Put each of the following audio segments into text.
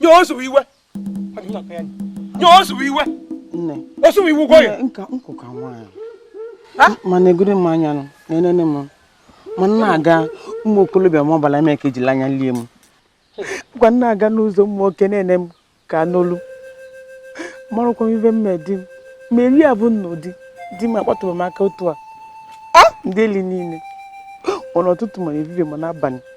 nye osuwe iwe nye osuwe iwe osuwe iwu gwa ya nka nkụ ka nwaanyị mana egoro m anya nụ na enene m ma m na-aga ụmụ okorobịa ma ọbala eme ka ejila anya lie m kwa m na-aga n'ụzọ ụmụ nwoke na-ene m ka n'olu amarọkwa m ive me di m ma eri abụ m nụ di di m akpatụrọ m aka otu a ndeeli niile ma n'ụtụtụ ma n'ehihie ma n'abalị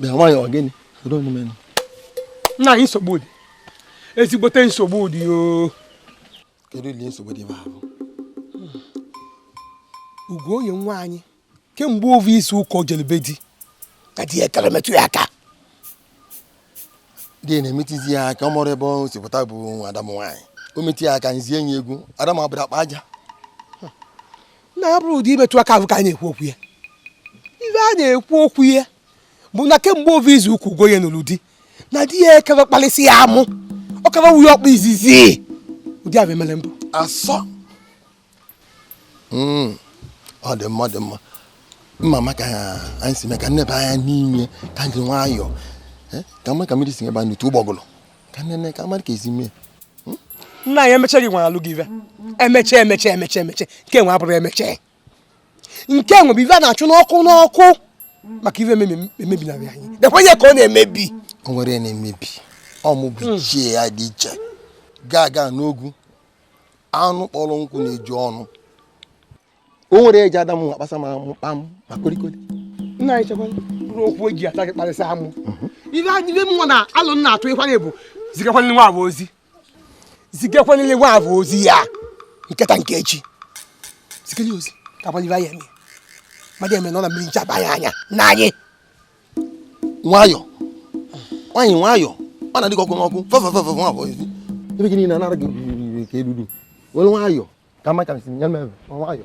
bịa nwaanyị ọ gịnị nna anyị nsogbu dị ezigbote nsogbu dị o kedu ile nsogbu dị ebe ahụ Ugoye nwa anyị kemgbe ovu izu ụka o jere be di ka di ya ekere metụ ya aka di ya na-emetụzi ya aka ọ mụrụ ebe o si pụta bụ nwa ada m nwaanyị o metụ ya aka nzie enyi egwu ada m abụrọ akpa aja nna anyị ọ bụrọ ụdị imetụ aka ahụ ka a na-ekwu okwu ya ife a na-ekwu okwu ya bụ na kemgbe ovu izu ụka Ugoye nụrụ di na di ya ekere kpalịsị ya amụ ọ kara wuye ọkpa izizi ụdị avụ emere mbụ asọ Mm, ọ dị mma ọ dị mma m ma ma ka anyị si mee ka m nebe anya n'ime ka anyị jiri nwayọọ Eh, ka m ma ka mmiri si baa n'opi ụgbọgụlụ ka m nene ka m mara ka e si mee nna anyị emecha gị nwere alụ gị ive emecha emecha emecha emecha nke nwa abụrọ emecha nke nwa bụ ive a na-achụ n'ọkụ n'ọkụ maka ive emebi- emebinarị anyị dekwa ihe ka ọ na-emebi o nwere ihe na-emebi ọmụ bụ ichie ya dị iche gaa gaa n'ogwu anụ kpọrọ nkụ na-eju ọnụ o nwere eji ada m akpasa ma amụ kpam ma kolikoli nna anyị chekwa mkpụrụ okwu eji ada gị kparịsị amụ mhm. ibe anyị ive mụ na alụ nna atụ ịkwanye bụ zigakwanye nwa avụ ozi zigakwanye nwa avụ ozi ya nketa nke echi ziganye ozi ka agbanye ibe anyị eme mmadụ ama nọ na mmiri ncha abaa anyị anya nna anyị nwayọ nwaanyị nwayọ ọ na-adị ka ọkụ n'ọkụ fefefefe nwa abụọ ezi ive gị niile anara gị riri ka eruru were nwayọ ka m ma ka m siri nyere ebe nwayọ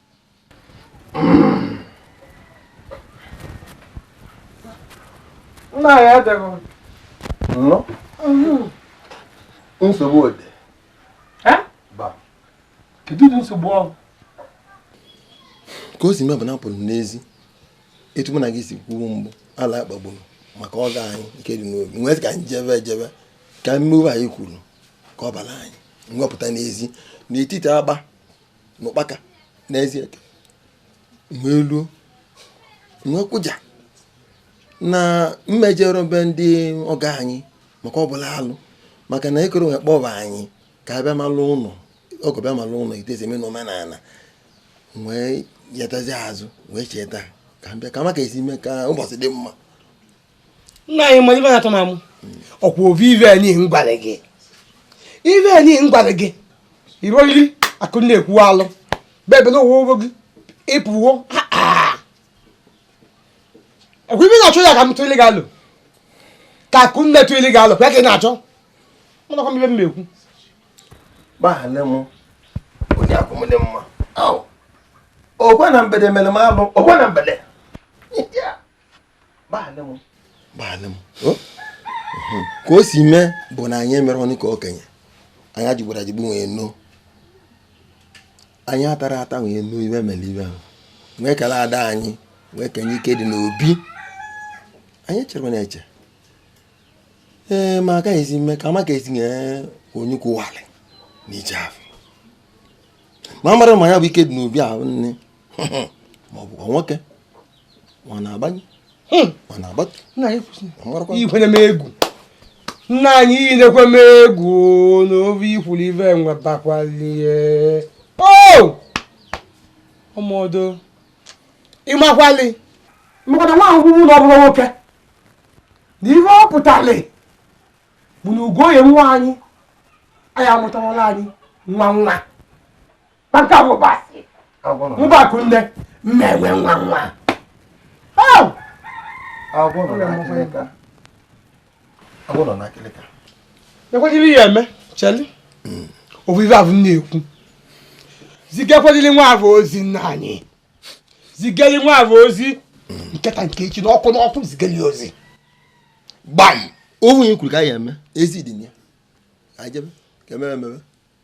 nna anyị adịghị nnọ nsogbu ode ba kedu ụdị nsogbu ọhụụ ka o si mee bụ na ọ bụrụ n'ezi etu mụ na gị si kwuo mgbu ala akpagburu maka ọgọ anyị nke dị n'obi wee sị ka anyị jebe ejebe ka mmiri anyị kwuru ka ọ bara anyị m wepụta n'ezi n'etiti agba n'ụkpaka n'ezie wee luo wee kwụja na m ejerọ be ndị ọgọ anyị maka ọ bụla alụ maka na ekere onwe kpọba anyị ka a bịa malụ ụnọ ọgọ bịa malụ ụnọ itezeme na omenana wee yetazi azụ wee cheta ka m bịa ka maka e si mee ka ụbọchị dị mma nna anyị ma ibe na-atọ n'amụ ọkwa obi ife anyị gwara gị ife anyị gwara gị iro iri akụ na-ekwu alụ bebe na ụwa gị ịpụwo ọkwa ibe na-achọ ya ka m tụrụ gị alụ ka akụ nne tụrụ gị alụ kwa ka ị na-achọ mụna kwa ibe m na-ekwu gbaghara m onye akwụmdị mma okwe na mbede mere m alụ okwe na mbede ka o si mee bụ na anyị emere ọnụ ka okenye anyị ajigbara ajigbu nwee no anyị atara ata nwee no ife mere ife ahụ wee kele ada anyị wee kenye ike dị n'obi anyị chere na-eche ee ma agaghịzi eme ka amaka esi nye onye kwụwalị na ije afọ ma mara ma ya bụ ike dị n'obi abụ nne ma ọ bụkwa nwoke ọ na-agbanye hmm. ọ na-agbatu ikwere m egwu nna anyị inekwe m egwu na ofe ikwuru ife nwetakwalihe ọmọdụ ịmakwali maka na nwa ahụhụ ụlọ ọbụla nwoke na ihe ọ pụtali bụ na ugoye nwa anyị anyị amụtawala anyị nwa nwa na nke a bụ ụba a sị ụba akụ nne mma e nwee nwa nwa agwọ nọ n'akịlịka agwọ nọ n'akịlịka ekwedịrị ya eme cheli hmm. ofu ife afụ m na-ekwu zigakwedịrị nwa afụ ozi nna anyị zigeli nwa afụ ozi hmm. nke taa nke echi n'ọkụ n'ọkụ zigeli ozi gbam onwe ya kwuru ka anyị eme ezi dị ya ajebe ka emebe emebe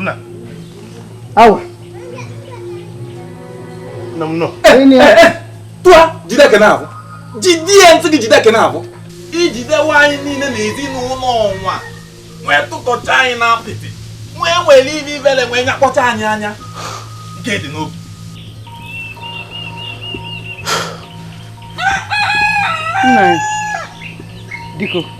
nna awa nna m nọ tụa jide eke na-abụ jide ya ntị gị jide eke na-abụ ijidewe anyị niile na ezinụlọ ọnwa wee tụkọcha anyị na apịtị wee were ibe ibele wee nyakpọcha anyị anya nke dị n'obi nna biko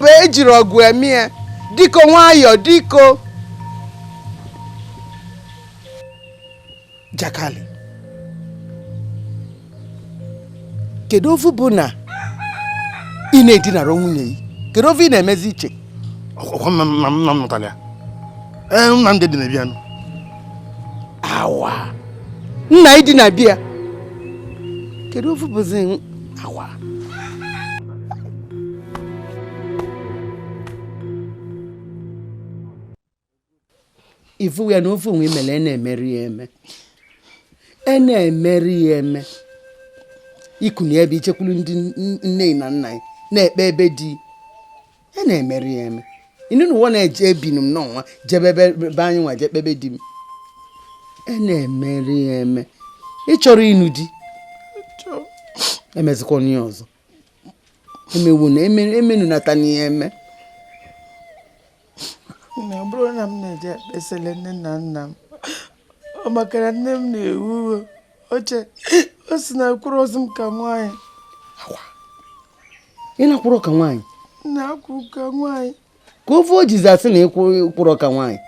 wee jiri ọgụ eme ya diko nwayọọ diko jakali kedu ofu bụ na ị na-edinara nwunye gị kedu ofu ị na-emezi iche ọkwa nna nna m nụtara ya ee nna m dị na-ebi anụ awa nna ịdị na bịa kedu ovu bụzi awa ifu ya na ovu nwa i mele e na-emerọ ya eme e na-emerọ ya eme i kunie ebe i jekwuru ndị nne na nna na-ekpebe di a na-emerọ ya eme ị nụ na ụwa na-eje ebinu m n'ọnwa jebe ebe ebe anyị nwa je kpebe di m a na-emerọ ya eme ị chọrọ ịnụ di emezikwana ya ọzọ emewu na eme- emenu nata n'ihe eme na ọ bụrụ na m na-eje ekpesele nne na nna m ọ makara nne m na-ewe iwe o che ọ sị na akwụrọzi m ka nwaanyị ị na-akwụrụ ka nwaanyị na-akwụ ka nwaanyị kee ovu o jizi asị na ị kwụrọ ka nwaanyị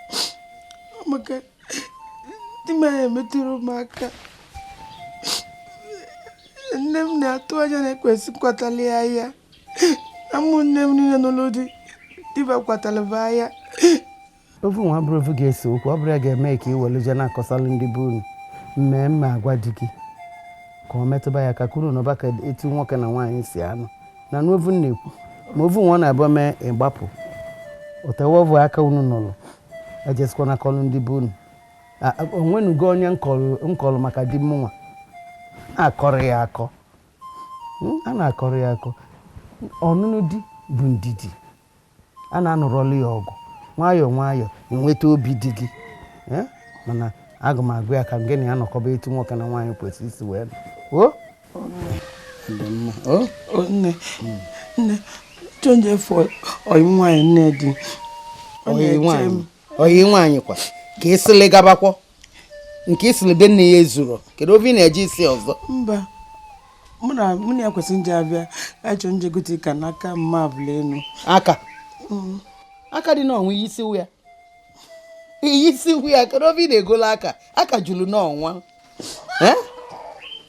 maka di m anyị emetụrọ m aka nne m na-atụ anya na ekwesị kwatala ya ahịa na ụmụnne m niile nụlụ di di ba kwatara ba ahịa Ovu nwa abụrọ ovu ga-ese okwu, ọ bụrọ ya ga-eme ka i were je na-akọsalụ ndị be unu m ma agwa di gị ka ọ metụba ya aka ka unu nọba etu nwoke na nwaanyị si anọ na n'ovu m na-ekwu ma ovu nwa ọ na-abụ mee ịgbapụ otewe ọvụ aka unu nụrụ ejezikwana akọlụ ndị be unu A- a- o nwenugo onye m kọlụ m kọlụ maka di m nwa a na-akọrọ ya akọ Mm, a na-akọrọ ya akọ ọnụnụ di bụ ndidi A na-anụrọlụ ya ọgụ nwayọọ nwayọọ i nweta obi di gị. Ee, mana aga m agwa ya ka gị na ya nọkọba etu nwoke na nwaanyị kwesịrị isi wee nọ. O? Dị mma. O? O, nne nne chọọ m je fụ ọyị nwaanyị nne di Ọ Ọyị na-eche nwaanyị. m. Ọyị nwaanyị kwa ka ị sịlị gabakwọ nke isi na be nna ya ezuru kedu ovu ị na-eje isi ọzọ mba mụ na mụ na ya kwesịrị ije abịa achọ m je gote ka n'aka mma abụla enu aka aka dị n'ọnwa i yisie ya i yisie ya kedu ovu ị na-egola aka aka juru n'ọnwa Eh?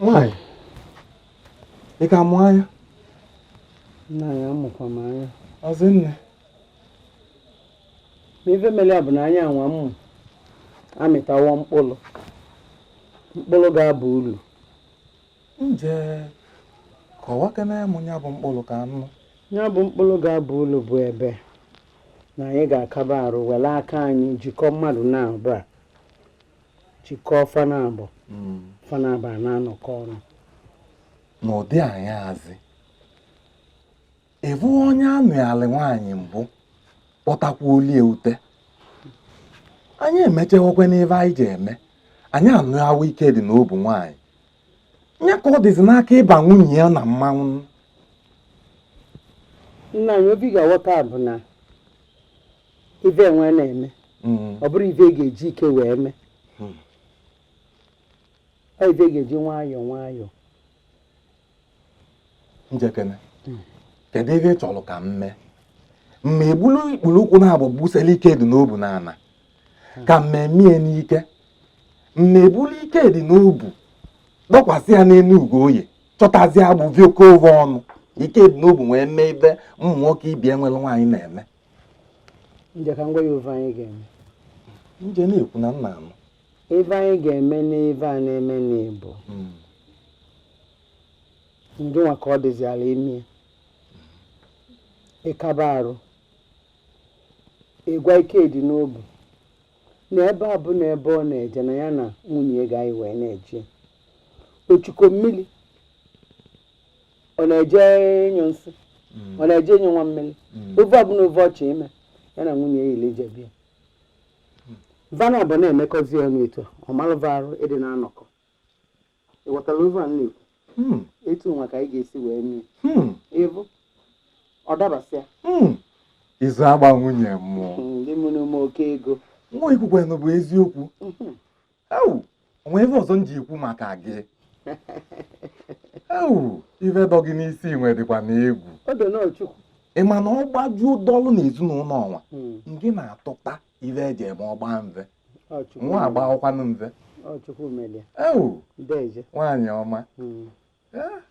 Nwaanyị, ị ka mụ anya? Nna anyị amụkwa m anya. Ọzọ nne. Ma ive mere ya bụ na anya anwa m mụ amịtawo mkpụrụ. Mkpụrụ ga-aba uru. nje kọwakene m ya bụ mkpụrụ ka anụ ya bụ mkpụrụ ga-abụ ụlọ bụ ebe na anyị ga-akaba arụ were aka anyị jikọọ mmadụ naabọ a jikọọ fa naabọ hmm. fa naabọ a na-anọkọ ọnụ n'ụdị anyị azị ịbụ onye anụalị nwaanyị mbụ kpọtakwa olie ute anyị emechewekwe n'ive anyị ji eme anyị anụ ahụ ike dị n'obu nwaanyị nye ka ọ dịzi n'aka ịba nwunye ya na mmanwụ nna anyị obi ga-aghọta bụ na ive enwe na-eme mm. ọ bụrọ ive ga-eji ike wee mee mm. ọ ive ga-eji nwayọọ nwayọọ njekene kedu ihe ị chọrọ ka m mee mma egbulu ikpulu ụkwụ naabọ gbusela ike dị n'obu n'ana ka m mee m ya n'ike mma ebulu ike dị n'obu dọkwasị ya n'enu Ugoye chọtazie agbụ vikọọ oge ọnụ ike dị n'obu wee mee ive ụmụ nwoke ibe e nwelu nwaanyị na-eme nje ka m gwa ya ife anyị ga-eme nje na-ekwu na nna anụ ife anyị ga-eme n'ife a na-eme n'Igbo hmm. ndị nwa ka ọ dịzi ala ime ịkaba arụ ịgwa ike dị n'obi na ebe ọbụna ebe ọ na-eje na ya na nwunye ya ga-eyi wee na-eje o chukọ mmiri ọ na-eje anyụ nsị hmm. ọ na-eje anyụ nwa mmiri hmm. ife ọbụna ife ọ chọ ime ya na nwunye ya yili jebe ya va naabọ na-emekọzi ọnụ etu ọ malụ va arụ ịdị na-anọkọ ị ghọtara ife a na-ekwu hmm. etu nwa ka anyị ga-esi wee mee hmm. ịbụ ọ dabasịa hmm. izu agba nwunye mmụọ ndị mụrụ ụmụ oke ego nwa i kwukwenụ bụ eziokwu ewu o nwe ive ọzọ m ji ekwu maka gị ewu ife dị gị n'isi nwe dịkwa na egwu ị ma na ọ gbajuo dọlụ na ezinụlọ ọnwa hmm. ngị na-atụta ife e ji eme ọgba mve nwa agba ọkwanụ mve ewu nwaanyị ọma hmm.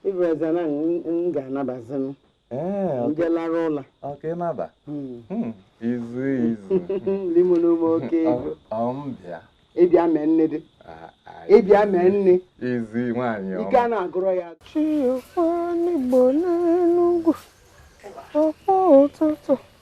ịbụ eze na m ga-anabazinụ njelara ụla ọkịnaba izu izu limo n'ume oke ego ọmbịa ịbịa mee nne dị ịbịa mee nne izu nwaanyị ọma ike a na-agwụrọ ya chiokwa n'igbo n'enugwu ọkpọ ụtụtụ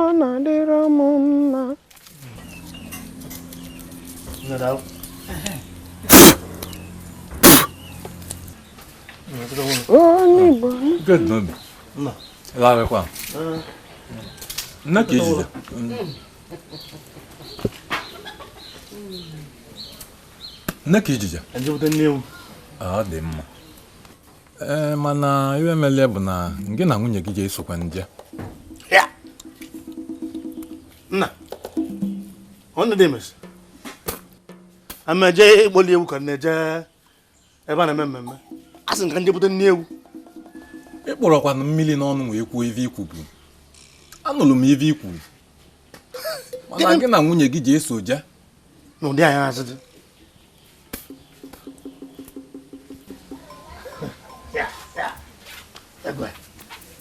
ọ na-adịrọ m mma onye Igbo nne ka ejije nne ka ijije ọ dị mma ee mana ive mele bụ na gị na nwunye gị ga-esokwa nje nna ọnụ dị emesi ameje ịkpọli ewu ka a na-eje ebe a na-eme mmemme a sị ka e je bute nni ewu ị kpụrọkwanụ mmiri n'ọnụ wee kwuo ive i kwu bụ anụrụ m ive i kwuru mana gị na nwunye gị je-eso je n'ụdị anyị azụ dị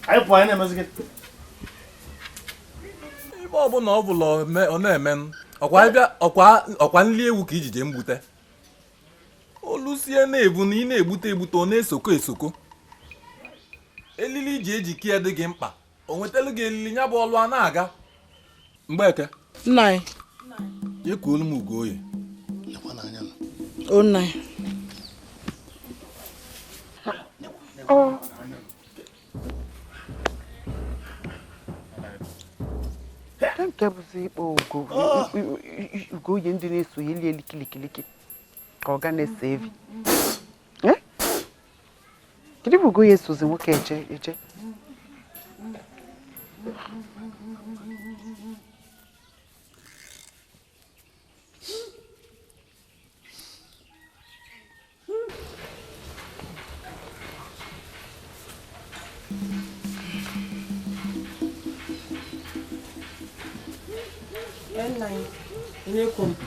anyị pụọ anyị na-emezi gị ibe ọbụla ọ bụla ọ na-eme ọkwa nri ewu ka ị je-eje mgbute o lusie na-ebu na ị na-egbute egbute ọ na-esoko esoko elili ị je-eji kee ya dị gị mkpa o wetara gị elili ya bụ ọlụ a na-aga mgbeke nna anyị ya ka olu m Ugoye o nna anyị nke bụzi ịkpọ Ugoye ndị na-eso ya elie likiliki ka ọ ga na-eso evi kedu ebe Ugoye esozi nwoke eje eje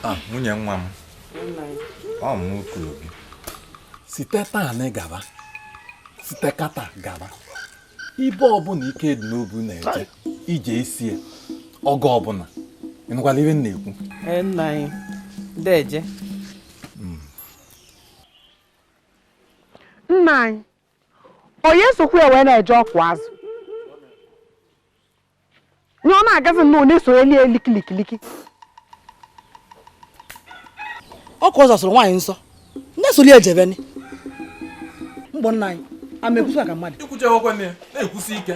Ah, nwunye nwa m ọ mụ kwuru gị site taa na gaba site kịta gaba ibe ọbụla Ikedinobu na-eje ị je-eso ya oge ọbụla ịnụkwala ihe m na-ekwu nna anyị deje hmm. nna anyị onye sokwu ya wee na-eje ọkụ azụ nye ọ na-agazi nnọọ na-eso eli eli kilikiliki ọ ka ọ zasoro nwaanyị nsọ nne soli ejebeni mgbọ nna anyị ama ekwusi maka mmadụ ikwuchi akwụkwọ nne na-ekwusi ike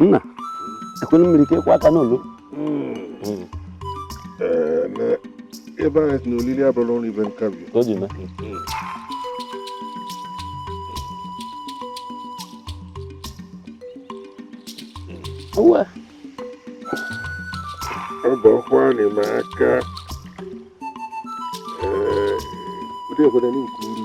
nna ekwelu mmiri ka ekwe aka n'olu ebe anyị si na olili abụrụ ọrụ ibe nkabi ka o ji mee uwe ọ bụ ọkwa anyị ma aka ee ụdị obodo n'ukwu uru